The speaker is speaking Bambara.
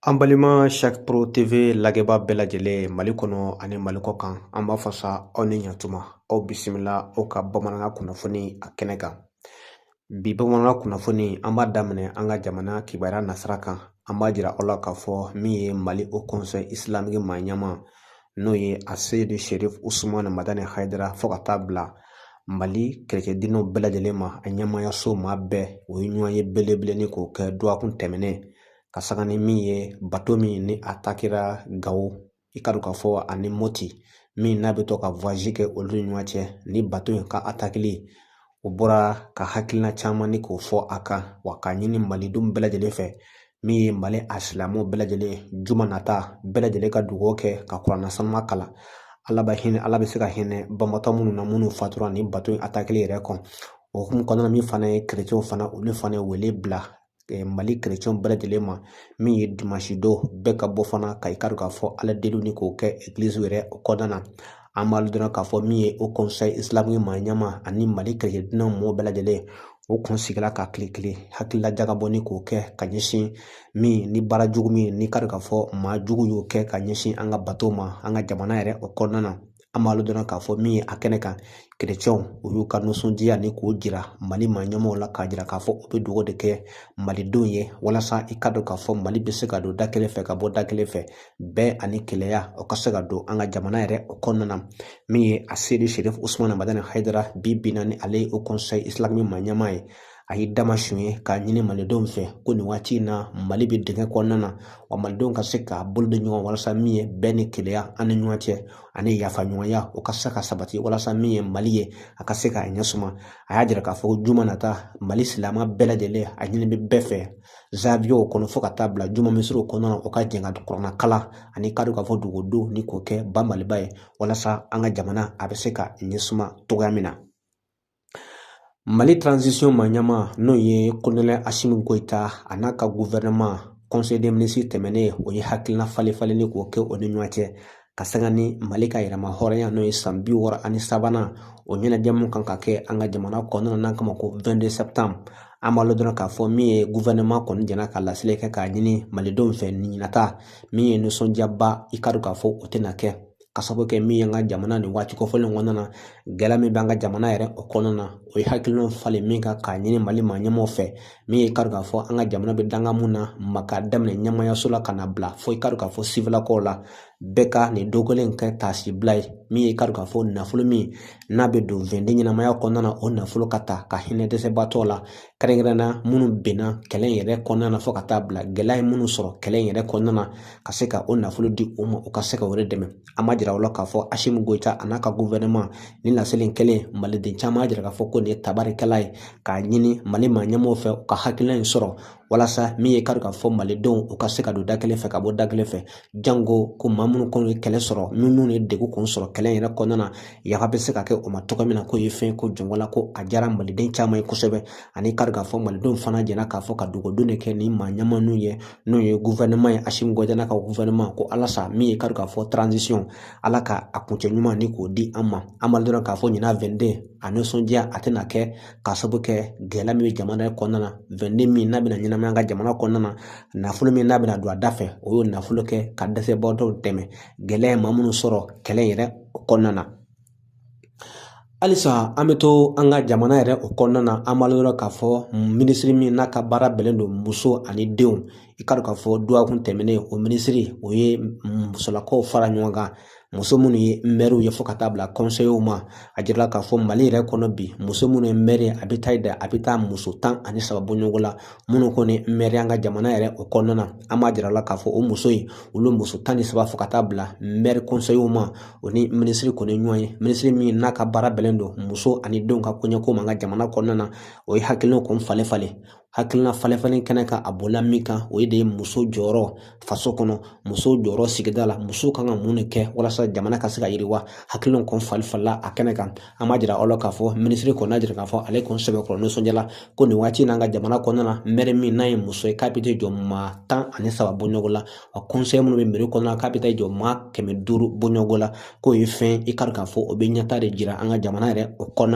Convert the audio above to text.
An balima shak pro TV lajɛbaa bɛɛ lajɛlen mali kɔnɔ ani mali kɔkan an b'a fɔ sa aw ni yan tuma aw bisimila aw ka bamanankan kunnafoni a kɛnɛ kan bi bamanan kunnafoni an b'a daminɛ an ka jamana kibaruya nasira kan an b'a jira aw la k'a fɔ min ye mali haut conseil islamique maa ɲɛma n'o ye aseyidi sherifu usumani madani hayidara fo ka taa bila mali kerecɛn diinɛw bɛɛ lajɛlen ma a ɲɛmaayaso maa bɛɛ u ye ɲɔgɔnye belebele ni k'o kɛ dɔgɔkun tɛmɛnen ka sanga ni min ye bato min ni atakera gawo i ka dɔn k'a fɔ ani mɔti min n'a bɛ to ka voyage kɛ olu ni ɲɔgɔn cɛ ni bato in ka atakeli o bɔra ka hakilina caman ni k'o fɔ a kan wa k'a ɲini malidenw bɛɛ lajɛlen fɛ min ye mali a silamɛw bɛɛ lajɛlen juma nata bɛɛ lajɛlen ka dugawu kɛ ka kuranna sanuma kalan ala bɛ hinɛ ala bɛ se ka hinɛ banbaatɔ minnu na minnu fatura ni bato in atakeli yɛrɛ kɔnɔ o hukumu kɔnɔna min fana ye kerecɛnw fana olu fana ye wele bila mali kerecɛnw bɛɛ lajɛlen ma min ye dimansi don bɛɛ ka bɔ fana ka i ka dɔn k'a fɔ ala deli ni k'o kɛ egilizi yɛrɛ o kɔnɔna na an b'a dɔn k'a fɔ min ye haut conseil islamique maa ɲɛma ani mali kerecɛn diinɛ mɔɔ bɛɛ lajɛlen o kun sigila ka kile kelen hakilila jagabɔ ni k'o kɛ ka ɲɛsin min ni baara jugu min ni i ka dɔn k'a fɔ maa jugu y'o kɛ ka ɲɛsin an ka bato ma an ka jamana yɛrɛ o kɔnɔna na an b'a dɔn dɔrɔn k'a fɔ min ye a kɛnɛ kan kerecɛnw u y'u ka nisɔndiya ni k'o jira mali maa ɲɛmaaw la k'a jira k'a fɔ u bɛ dugawu de kɛ malidenw ye walasa i ka dɔn k'a fɔ mali bɛ se ka don da kelen fɛ ka bɔ da kelen fɛ bɛn ani kelenya o ka se ka don an ka jamana yɛrɛ o kɔnɔna na min ye aseyidi sherifu usumani madani hayidara bi bi na ni ale ye haut conseil islamique maa ɲɛmaa ye a ye dama sun ye k'a ɲini malidenw fɛ ko nin waati in na mali bɛ dingɛ kɔnɔna na wa malidenw ka se ka bolo di ɲɔgɔn walasa min ye bɛn ni kelenya an ni ɲɔgɔn cɛ ani yafa ɲɔgɔnya o ka se ka sabati walasa min ye mali ye a ka se k'a ɲɛ suma a y'a jira k'a fɔ ko juma nata mali silamɛ bɛɛ lajɛlen a ɲini bɛ bɛɛ fɛ zawiyaw kɔnɔ fo ka taa bila juma misiriw kɔnɔna na o ka jɛn ka kuranna kalan ani i ka dɔn k'a fɔ dugawu donw ni k'o kɛ banbaliba ye walasa an ka jamana a bɛ se ka ɲɛsuma cogoya min na mali transition maa ɲɛma n'o ye kolonɛli asimi goyita a n'a ka gouvernement conseil des ministres tɛmɛnen o ye hakilina falenfalen ni k'o kɛ o ni ɲɔgɔn cɛ ka sanga ni mali ka yɛrɛmahɔrɔnya n'o ye san bi wɔɔrɔ ani sabanan o ɲɛnajɛ mun kan ka kɛ an ka jamana kɔnɔna na kama ko vingt-deux septembre an b'a dɔn k'a fɔ min ye gouvernement kɔni jɛnna ka laseli kɛ k'a ɲini malidenw fɛ nin ɲinata min ye nisɔndiyaba i ka dɔn k'a fɔ o tɛna kɛ ka sabu kɛ min ye an ka jamana nin waati kofɔlen kɔnɔna na gɛlɛya min b'an ka jamana yɛrɛ o kɔnɔna na o ye hakilinaw falen min kan k'a ɲini mali maa ɲɛmaaw fɛ min ye i ka dɔn k'a fɔ an ka jamana bɛ danga mun na ma k'a daminɛ ɲɛmaayaso la ka na bila fo i ka dɔn k'a fɔ siwilakaw la bɛɛ ka nin don kelen kɛ taasi bila ye min ye i ka dɔn k'a fɔ nafolo min n'a bɛ don vingt-deux ɲɛnamaya kɔnɔna na o nafolo ka ta ka hinɛ dɛsɛbaatɔ la kɛrɛnkɛrɛnnenya la minnu binna kɛlɛ in yɛrɛ kɔnɔna na fo ka taa bila gɛlɛya ye minnu sɔrɔ kɛlɛ in yɛrɛ kɔnɔna na ka se ka o nafolo di u ma u ka se ka o de dɛmɛ an b'a jira aw la k'a fɔ Asimi Goyita a n'a ka gufɛrɛnaman nin laseli in kɛlen maliden caman y'a jira k'a fɔ ko nin ye tabarikala ye k'a ɲini mali maa ɲɛmaaw fɛ u ka hakilina in sɔrɔ walasa min ye i k'a dɔn k'a fɔ malidenw u ka se ka don da kelen fɛ ka bɔ da kelen fɛ Jango ko maa minnu kɔni ye kɛlɛ sɔrɔ n'u ye degun kun sɔrɔ kɛlɛ in yɛrɛ kɔnɔna na yafa bɛ se ka kɛ o ma cogo min na k'o ye fɛn ye ko jɔnko la ko a diyara maliden caman ye kosɛbɛ ani i k'a dɔn k'a fɔ malidenw fana jɛra k'a fɔ ka dugawu de kɛ ni maa ɲɛmaaw ye n'o ye gufɛrɛnaman ye Asimi Goyita n'a ka gufɛrɛnaman ko walasa min ye i k'a dɔn k'a fɔ transition ala ka a kuncɛ ɲuman ni k'o di an ma an b'a dɔn k'a fɔ ɲinan vingt-deux a nisɔndiya a tɛna kɛ K'a sabu kɛ gɛlɛya min bɛ jamana in kɔnɔna na vingt-deux min n'a bɛna ɲɛnamaya an ka jamana kɔnɔna na nafolo min n'a bɛna don a da fɛ o y'o nafolo kɛ ka dɛsɛbagatɔw dɛmɛ gɛlɛya ye maa minnu sɔrɔ kɛlɛ in yɛrɛ kɔnɔna na halisa an bɛ to an ka jamana yɛrɛ o kɔnɔna na an b'a jira aw la k'a fɔ minisiri min n'a ka baara bɛnnen don muso ani denw i k'a dɔn k'a fɔ dɔgɔkun tɛmɛnen o minisiri o ye musolakaw fara ɲɔgɔn kan muso minnu ye mɛriw ye fo ka taa bila kɔnseyew ma a jirala k'a fɔ mali yɛrɛ kɔnɔ bi muso minnu ye mɛri a bɛ taa da a bɛ taa muso tan ani saba bɔ ɲɔgɔn la minnu kɔni mɛri an ka jamana yɛrɛ o kɔnɔna na an b'a jira aw la k'a fɔ o muso in olu muso tan ni saba fo ka taa bila mɛri kɔnseyew ma o ni minisiri kɔni ɲɔgɔn ye minisiri min n'a ka baara bɛnnen don muso ani denw ka koɲɛko ma an ka jamana kɔnɔna na o ye hakilinaw kɔni falen falen hakilina falen falen kɛnɛ kan a bɔla min kan o ye de ye muso jɔyɔrɔ faso kɔnɔ muso jɔyɔrɔ sigida la muso kan ka mun de kɛ walasa jamana ka se ka yiriwa hakilinaw kɔni falen falenna a kɛnɛ kan an b'a jira aw la k'a fɔ minisiri kɔni y'a jira k'a fɔ ale kɔni sɛbɛkɔrɔ nisɔndiyala ko nin waati in n'an ka jamana kɔnɔna na mɛri min n'a ye muso ye k'a bɛ jɔ maa tan ani saba bɔ ɲɔgɔn la wa kɔnseye minnu bɛ meri kɔnɔna na k'a bɛ taa jɔ maa kɛmɛ duuru bɔ ɲɔgɔn la k'o ye fɛn i k'a dɔn k'a fɔ o bɛ ɲɛta de jira an ka jamana yɛrɛ o kɔnɔna